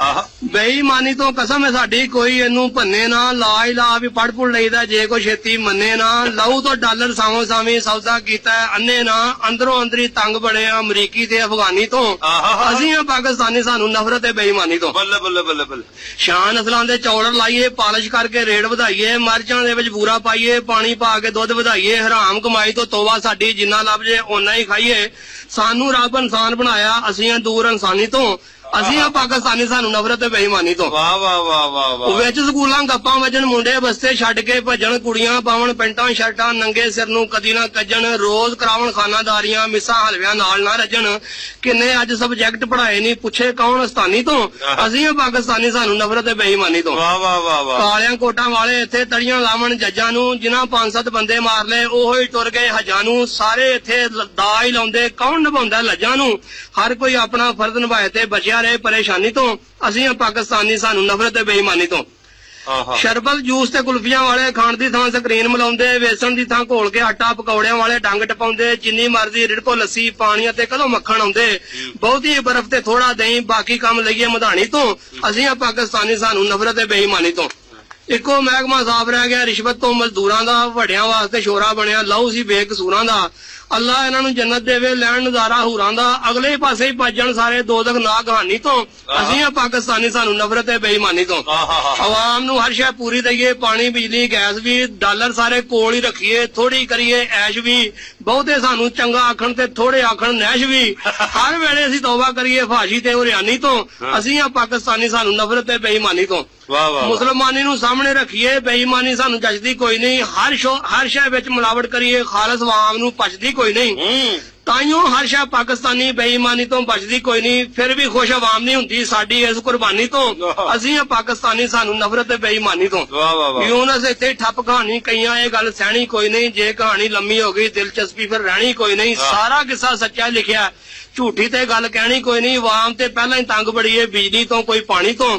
اہا بے ایمانی توں قسم ہے ساڈی کوئی اینوں بھنے نہ لا الہ وی پڑھ پڑھ لئیدا جے کوئی چھیتی منے نہ لہو توں ڈالر سانویں سانویں سودا کیتا ہے انے نہ اندروں اندری تنگ بڑے آں امریکی تے افغانی توں اسیں آں پاکستانی سانوں نفرت ہے بے ایمانی توں۔ بلے بلے بلے بلے شاہ نسلاں دے چوڑر لائیے پالش کر کے ریٹ ودھائیے مرچاں دے وچ بورا پائیے پانی پا کے دودھ ودھائیے حرام کمائی توں توبہ ساڈی جنہاں لبھ جے اونہاں ای کھائیے سانوں رب انسان بنایا اسیں آں دور انسانی توں اسیں ہاں پاکستانی سانوں نفرت ہے بے ایمانی توں واہ واہ واہ واہ واہ۔ وچ سکولاں گپاں وجن منڈے بستے چھڈ کے بھجن کڑیاں پاون پینٹاں شرٹاں ننگے سر نوں کدی نہ کجن روز کراون خانہ داریاں مساں حلویاں نال نہ رجن کنیں اج سبجیکٹ پڑھائے نی پچھے کون استانی توں اسیں ہاں پاکستانی سانوں نفرت ہے بے ایمانی توں واہ واہ واہ واہ۔ کالیاں کوٹاں والے اتھے تڑیاں لاون ججاں نوں جنہاں پنج ست بندے مار لئے اوہی ٹر گئے حجاں نوں سارے اتھے داج لاوندے کون نبھاوندا لجاں نوں۔ ہر کوئی اپنڑاں فرض نبھائے تے بچیا رہے پریشانی توں اسیں آں پاکستانی سانوں نفرت تے بے ایمانی توں شربت جوس تے کلفیاں والے کھنڈ دی تھاں سکرین ملاوندے ویسن دی تھاں گھول کے آٹا پکوڑیاں والے ڈنگ ٹپاوندے جنی مرضی رڑکو لسی پانڑیاں تے کدوں مکھن آوندے بہتی ای برف تے تھوڑا دہی باقی کم لئیے مدھاڑی توں اسیں آں پاکستانی سانوں نفرت تے بے ایمانی توں۔ اکو محکمہ صاف رہ گیا رشوت توں مزدوراں دا وڈیاں واسطے شورا بنیا لہو سی بے قصوراں دا اللہ انہاں نوں جنت ڈیوے لین نظارہ حوراں دا اگلے ہی پاسے ہی پج جن سارے دوزخ ناک ہانی توں اسیں ہاں پاکستانی سانوں نفرت ہے بے ایمانی توں عوام نوں ہر شے پوری دئیے پانی بجلی گیس وی ڈالر سارے کول ہی رکھیے تھوڑی کریے عیش وی بہتے سانوں چنگا آکھن تے تھوڑے آکھن نیش وی ہر ویلے اسیں توبہ کریے فحاشی تے عریانی توں اسیں ہاں پاکستانی سانوں نفرت ہے بے ایمانی توں۔ واہ واہ واہ۔ مسلمانی نوں سامنڑے رکھیے بے ایمانی سانوں جچدی کوئی نئیں ہر شو ہر شے وچ ملاوٹ کریے خالص وعوام نوں پچدی کوئی نئیں ہوں۔ تائیوں ہر شے پاکستانی بے ایمانی توں بچدی کوئی نئیں پھر وی خوش عوام نئیں ہوندی ساڈی اس قربانی توں واہ۔ اسیں آں پاکستانی سانوں نفرت اے بے ایمانی توں واہ واہ واہ۔ یونس اتھے ای ٹھپ کہانی کئیاں اے گل سہنڑی کوئی نئیں جے کہانی لمی ہو گئی دلچسپی پھر رہنڑی کوئی نئیں واہ۔ سارا قصہ سچا لکھیا جھوٹی تے گل کہنڑی کوئی نئیں عوام تے پہلاں ای تنگ بڑی اے بجلی توں کوئی پانی توں